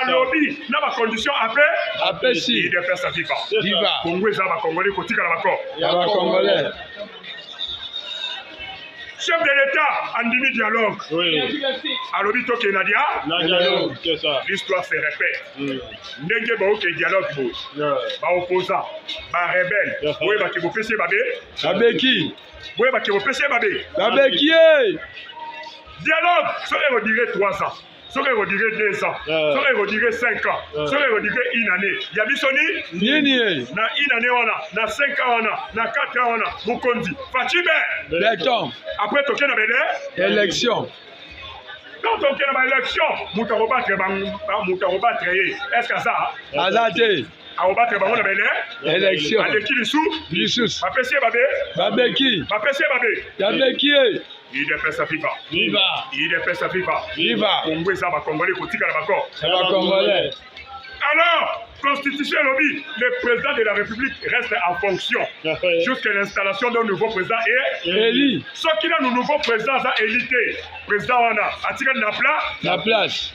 alobi na bacondition ape apesi idps viva viva kongo eza bakongole kotikala bako ya bakongole chef de l'état andimi dialogue alobi tokende na dia l'histoire se répète mm. ndenge baoke dialogue bo baopposant barebele boyebaki bopesi babe babeki boyebaki bopesi babe babeki ye dialogue soki ekodire 3 ans soki ekodire deux ans eh. soki ekodire cinq ans eh. soki ekodire une année ya biso ni nini eh? na une année wana na cinq ans wana na quatre ans wana mokonzi facibe beton après toke na bele élection quand toke na baélection moto akobatre moto akobatre ye est ce que aza aza te akobatela bango na bene élection aleki lisusu lisusu bapesi ye babe babeki bapesi ye babe babeki ye udps viva viva udps viva viva kongo eza bakongolais kotikala bako bakongolais alors constitution elobi le président de la république reste en fonction jusqu'à l'installation d'un nouveau président et élu soki nanu nouveau président aza élu te président wana atikali na pla na place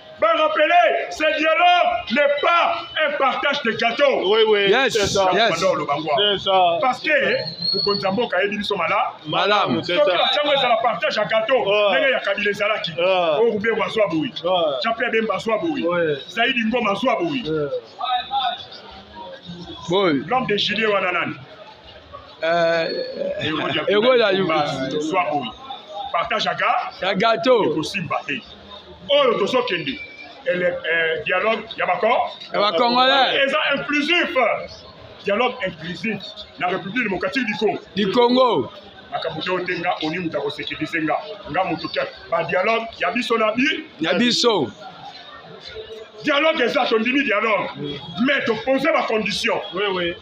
va rappeler ce dialogue n'est pas un partage de gâteau. Oui, oui. Yes, yes. Parce que mokonzi ya mboka ayebi biso malamu soki bacango ezala partage ya gato ndenge ya kabila ezalaki orube bazwa boye jape bemba azwa boye zaidi ngoma azwa boye l'homme de gilie wana nani ekola zwa boye partage aga ya gato ekosimba te oyo tozokende eh, dialogue ya bakor ya bacongolais eza inclusif dialogue inclusif na république démocratique du congo du congo makambo te ote nga oni moto akosekilise nga nga moto te badialogue ya biso na bi ya biso dialogue eza tondimi dialogue mais topose bacondition oui, oui.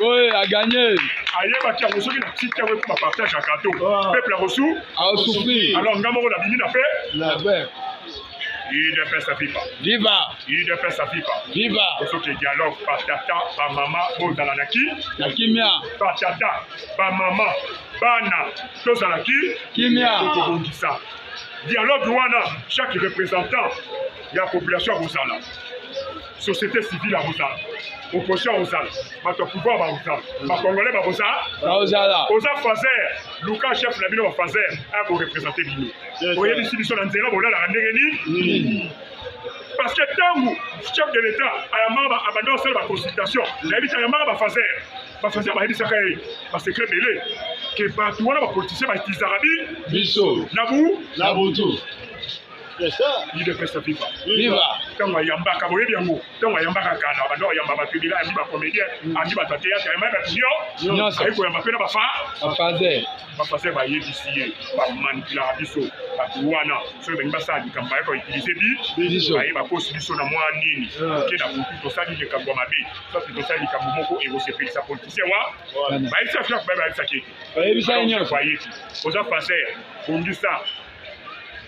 Oui, a gagné. ayebaki yango soki na tiki yango ekoma partage ya gato ah. peuple akosu aosufri alors nga moko nabimi na pe UDPS à Viva. Viva. UDPS à Viva. Viva. Pour ceux qui dialoguent, patata, ba maman, bon dans la qui La kimia. Patata, ba maman, bana, tous dans la qui Kimia. Tokobongisa. Dialogue wana, chaque représentant ya population akozala. société civile akozala opposition akozala bato ya pouvoir bakozala bacongolais bakozala oza faser luka chef na bino bafaser aya korepresente bino oyebisi biso na nzela bolalaka ndenge nini parce que ntango chef de l'état ayambaka abanda kosala baconsultation nayebisi ayambaka bafaser bafaser bayebisaka ye basecret ebele ke bato wana bapolitisien baitizaka bi biso na bu na butu idepesa viva viva ntango ayambaka boyebi yango ntango ayambaka kala bando ayamba bato ebila ayambi bacomédien mm. ayambi bato ya teyatre ayamba bato nyonso ayi koyamba mpe na bafaze bafaze bayebisi ye bamanipulaka biso bato wana soki balingi basala likambo baye koutilize biso baye bakosi biso na mwa nini oke na butu tosali likambo ya mabe soki tosali likambo moko ekosepelisa politicien wa bayebisa fiaku baye bayebisaki ete bayebi oza faser bongisa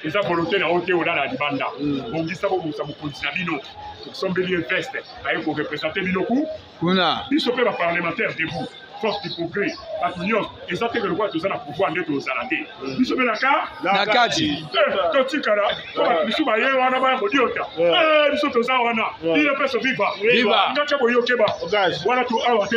eza volonté na yo te olala libanda mm. bongisa bobongisa mokonzi na bino osombeli ye veste aye korepresente bino ku kuna biso mpe baparlementaire debout force du progrès bato nyonso eza teke lokola toza na pouvoir nde tozala te mm. biso mpe naka na kati eh, totikala po bato bisu baye wana baya kodiota eh. Eh, biso toza wana iye mpe soviva ngaka boyokeba wana to awa te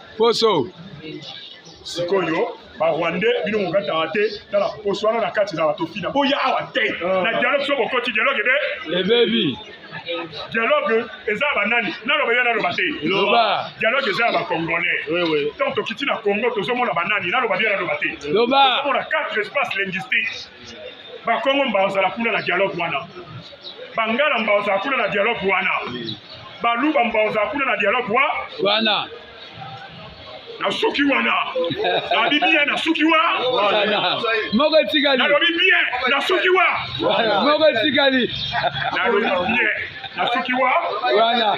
poso sikoyo barwandais bino mokataka te tala poso wana na kati ezala tofina boya awa te ah. na dialogue so bokoti dialogue ebe ebebi dialogue eza ya banani naloba yo naloba te dialogue eza ya bacongolais ntango tokiti na congo tozomona banani naloba byo naloba te tozomona quatre espace linguistique bakongo mbaozala kuna na dialogue wana bangala mbaozala kuna na dialogue wana baluba mbaozala kuna na dialogue wa wana nasuki wana nalobi bien nasuki wa moko etikali nalobi bien nasuki wa moko etikali nalobi bien nasuki wa wana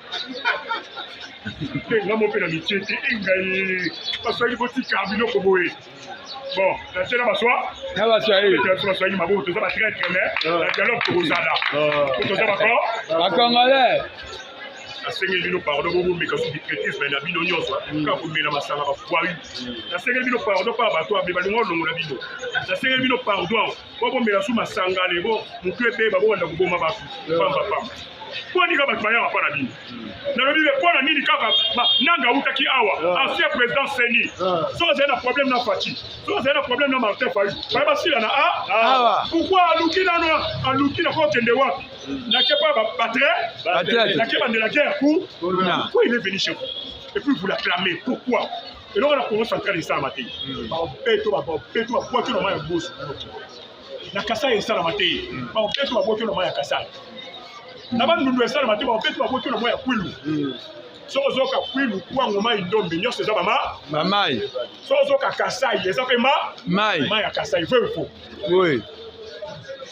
mpe nga mope na mitie te engai baswaki botika biloko boye bon natie na baswa na baswahili baswahili maboko toza batraitre me ah. na dialogue tokozala ah. toza bako bacongolais nasengeli bino pardon bomomeka su bikretisme na bino nyonso mm. kaka komela masanga bakwai mm. nasengeli bino pardon mpa bato abe balinga olongola bino nasengeli bino pardon bobomela su masanga lego motu ebeba bobanda koboma bato pamba pamba mpo nini kaka bato bayaka mpo na bino nalobi be mpo na nini kaka nanga autaki awa ah. ancien président seni ah. soki azali na problème na fati soki azali na problème na martin fayu baye basilana a ah? pourkui aluki nano aluki na kokende wapi nake mpa batre nake bandela guerre pour pourquoi il est venu chez vous et puis vous l'acclamez pourquoi eloko na congo central esalama te hmm. baobeto baobeto babwaki na mai ya bosu na kasai esalama te hmm. baobeto babwaki na mai ya kasai na bandundu esalama te baobeto babwaki na mai ya kwilu hmm. soki ozoka kwilu kwango mai ndombe nyonso eza bama mamai soki ozoka kasai eza mpe ma mai mai ya kasai veu fo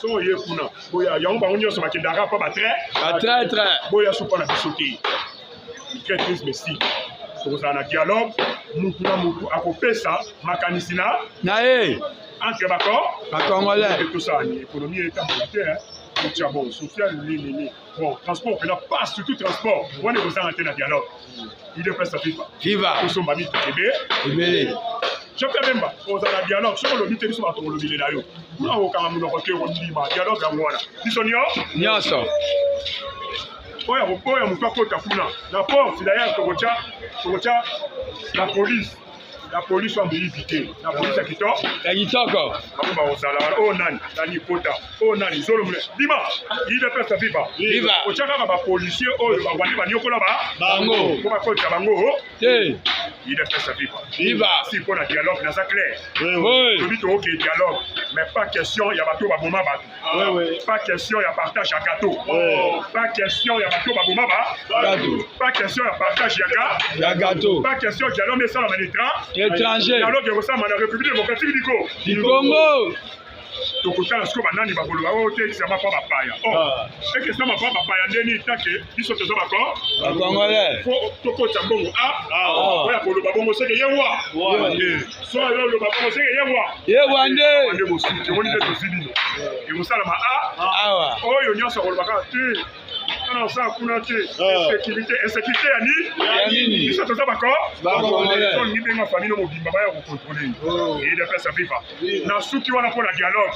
soki oye kuna boya yango bango nyonso bakendaka mpo batre batraitre boya supa na biso te traitrise messi tokozala na dialogue mutu na mutu akopesa makanisi na na ye entre bako bakongolais tosala ni ekonomi etambola te kotya bon social nini bon transport mpena pas surtout transport wana ekozanga te na dialogue idepesa viva viva tosomba mito ebe ebele jepe bemba ozala dialogue soki olobi te biso bato kolobile na yo kuna kokanga monoko te kondima dialogue yango wana biso nyonso oyo akoboya moto akota kuna na porte dayere tokotya tokotya la polise la polise oyo amoyibi te la polise ya kitoko ya kitoko bango bakozala wana oyo nani nani kota oyo nani zolo mule bima idps viva viva otya kaka bapolisier oyo bawandi banyokola ba bango mpo bakota bango oh. te idps viva viva si mpo na dialogue naza clair lobi tookee dialogue mais pas question ya bato baboma bato pas question ya partage ya gato pas question ya bato baboma ba pas question ya partage ya gato pas question dialogue esalama na étranger dialogue ekosalama na république démocratique du congo tokotala sikoyo banani bakoloba oyo te ekisama mpa bapaya o ekisama mpa bapaya ndeni take biso toza bakongolais po tokotisa mbongo a ah. oya koloba bongo seke ye wa so yo oloba bongo seke ye wa ye wa nde nde bosuki omoni nde tozi bino ekosalama a ah. oyo nyonso akoloba kaka te ana osala kuna te ah. insécurité insécurité ya nini biso toza bakotolingi ndenge famille no mobimba baya kokontrole ye edepesa viva na suki wana mpo na dialogue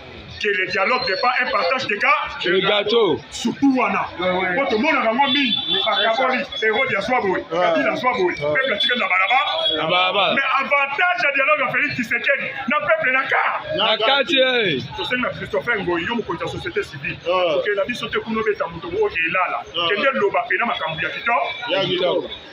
que le dialogue n'est pas un partage de cas de gâteau surtout wana po tomonaka yango mingi bakaboli erode ya zwa boye kabila ya zwa boye peuple atikali na balabala mais avantage ya dialogue ya félix kisekedi na peuple na ka na kati tosengi na christopher ngoyi yo mokonzi ya société civile okenda biso te kuna obeta moto oyo elala kende loba mpena makambo ya kitoko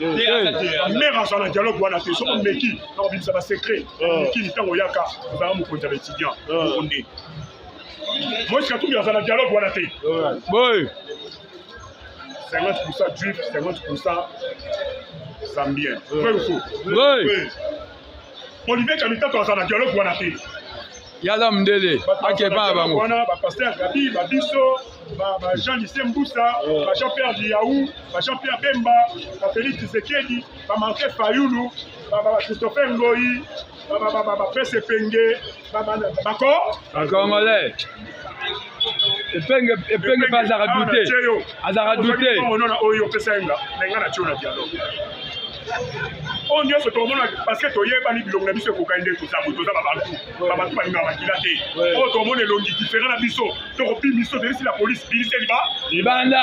mère azala na dialogue wana te soki omeki nakobimisa basecret mokili ntango oyaka ozala mokonzi ya baétudiant onde moïse katumbi azala na dialogue wana te boy 50 juif 50 zambien vrai ou faux Olivier Kamitato aza na dialogue wana te. Yala mdele akeba bango. Wana ba pasteur Gabi, ba biso, ba, ba Jean Lycée Mbusa, oh. ba Jean Pierre Liaou, ba Jean Pierre Bemba, ba Félix Tshisekedi, ba Martin Fayulu, ba, ba, ba Christopher Ngoyi, ba, ba, ba, ba, ba Prince Penge, bako bakongolais epenge epenge mpe azaka dute azaka dute oyo opesa yenga na nga na tio na dialogue oyo nyonso tokomona parceke toyebani bilongo na biso ekokani nde toza boye toza babantu babantu balinga makila te oyo tokomona elongi diferent na biso tokobimi biso toyebisi la polise biliseli ba libanda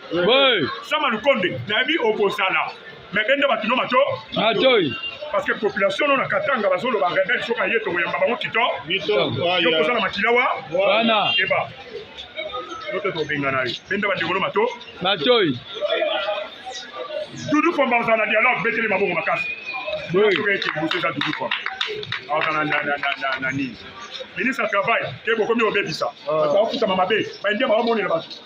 Oui. Sama Lukonde, nayebi okozala. Mais bende bato no mato. Matoi. Parce que population no na Katanga bazoloba rebelle soka ye tokoyamba bango kito. Yo kozala makila wa. Wana. Keba. Yote tobengana yo. Bende bandeko no mato. Matoi. Dudu Fomba ozala dialogue betele mabongo makasi. Oui. Soka eke boso eza Dudu Fomba. Ozala na na na na nini? Ministre ya travail, kebo komi obebisa. Bato bakufutama mabe. Baindia baomonela bato.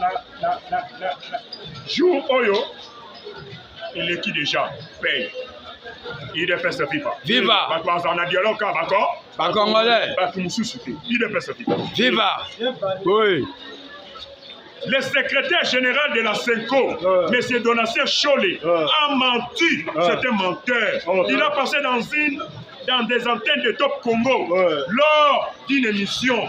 na, na, na, na, na jour oyo eleki déjà paye idps viva viva bato bazala na dialogue kaka bako bacongolais bato mosusu te idps viva viva oui le secrétaire général de la CENCO, euh. M. Donatien Chollet, euh. a menti. Euh. C'est un menteur. Oh, Il a passé dans une dans des antennes de Top Congo lors d'une émission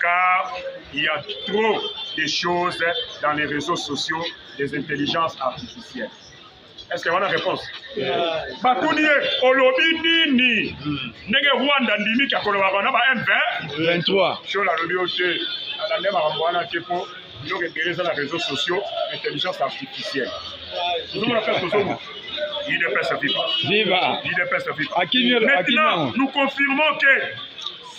car il y a trop de choses dans les réseaux sociaux des intelligences artificielles. Est-ce que a une réponse Batuni ye olobi nini ndenge Rwanda ndimi kya kolobaka na ba M23 sur la lobi ote alande makambo wana te mpo biloko ebele eza na réseaux sociaux intelligence artificielle tozomona mpe tozomona Viva. Viva. Maintenant, nous confirmons que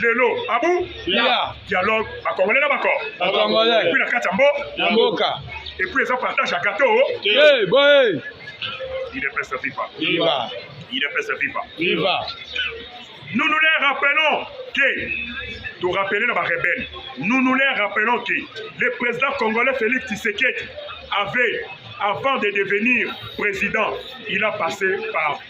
lelo abu ah dialogue bakongole na bako epuis na kati ya mboka epuis eza partage ya gato idps viva idps viva nous nous les rappelons que de rappeler la rebelle. Nous nous les rappelons que le président congolais Félix Tshisekedi avait, avant de devenir président, il a passé par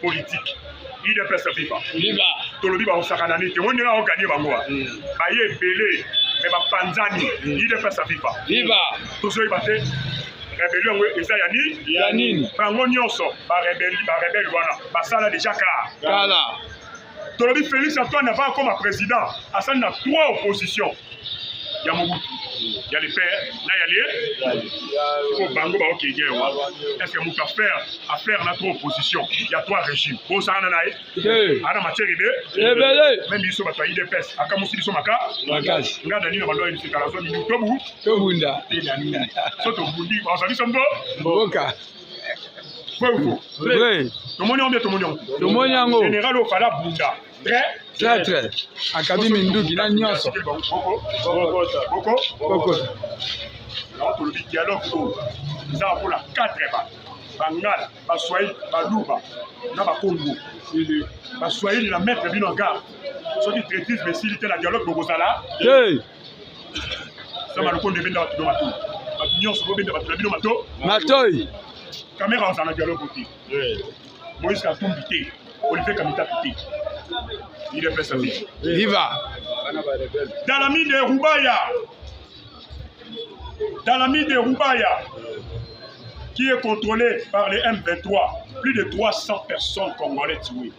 politique udps viva viva tolobi bakosakana nini te oyo ndenge akoganye bango wa hmm. baye ebele me bapanzani udps hmm. viva viva tozoyeba te rebelio yango eza ya nini ya nini bango nyonso barebele wana basala deja kala tolobi Felix Antoine avant akoma président asali na trois opposition ya Mobutu ya le père na ya le po bango baokenge wa est-ce que moto affaire affaire na trois opposition ya trois régime bosakana na ye ana matière ebe ebele meme biso bato ya idps akamusi biso maka makasi nga dani na bando ya bisekala zwa mingi tobu tobunda te dani so tobundi bazali biso mbo mboka tomoni yango tomoni yango tomoni yango général ofala bunda très traitre akabi minduki na nyonso tolobi dialogue oyo eza lokola 4 ba bangala baswahili baluba na bakongo baswahili na maître bino ya gare soki traitisme esili te na dialogue bokozala sama lokondo ebenda bato do matoi bato nyonso bobenda bato na bino mato matoi kamera ozala na dialogue te moïse katumbi te olivier kamitapi te idps te viva dalamide rubaya dalamide rubaya qui est contrôlé par les M23 plus de 300 personnes congolais tuées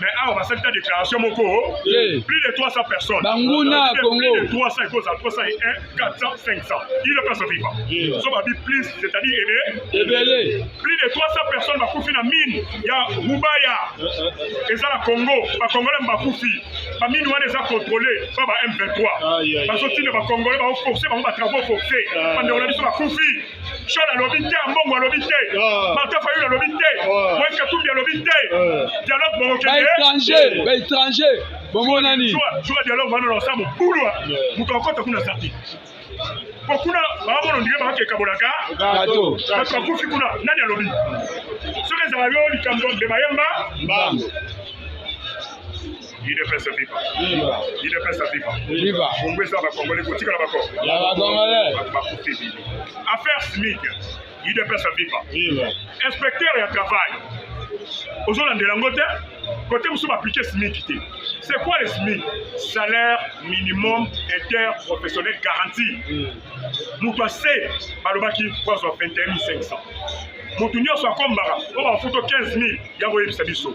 mais awa basali ta déclaration moko plus de 300 personnes banguna congo plus de 300 ekozala 301 400 500 il ne passe viva so babi plus c'est à dire ebe ebele plus de 300 personnes bakufi na mine ya rubaya eza na congo bacongolais bakufi bamine wana eza contrôlé pa ba m23 bazotinda bacongolais baoforce bango batravaux forcé bandeko na biso bakufi Sean alobi te, Ambongo alobi te, ah. Martin Fayulu alobi te, ah. Moïse Katumbi alobi te. Ah. Dialogue bongo kende. Ba étranger, ba étranger. Bongo nani? Joa, joa dialogue bana na samu bulwa. Mutu akota kuna sati. Po kuna bamono ndike ba ke kabolaka. Gato. Gato bakufi kuna nani alobi? Soki ezala yo likambo mbeba yemba. Mbango. udps viva udps viva viva kongo eza bakongole kotikala bakoko ya bakongole bakufi bini affaire smith udps viva viva inspecteur ya travail ozolandela yango te kote mosusu baaplike smic te c'est quoi le smic salaire minimum interprofessionnel garanti moto ase balobaki poison 21500 moto nyonso akombaka oyo bafuto 15000 ya koyebisa biso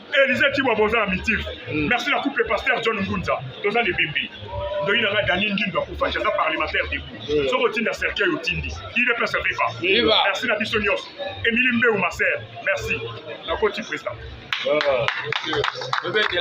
Elise Tibwa boza na mitif. Mm. Merci la couple pasteur John Ngunza. Toza les bébés. Ndoyi na nga Dani Ngindo akufa jaza parlementaire debout. Mm. Soko tinda cercueil otindi. Il est place viva. Viva. Merci na biso nyos. Emilie Mbeu ma sœur. Merci. Na koti président. Ah,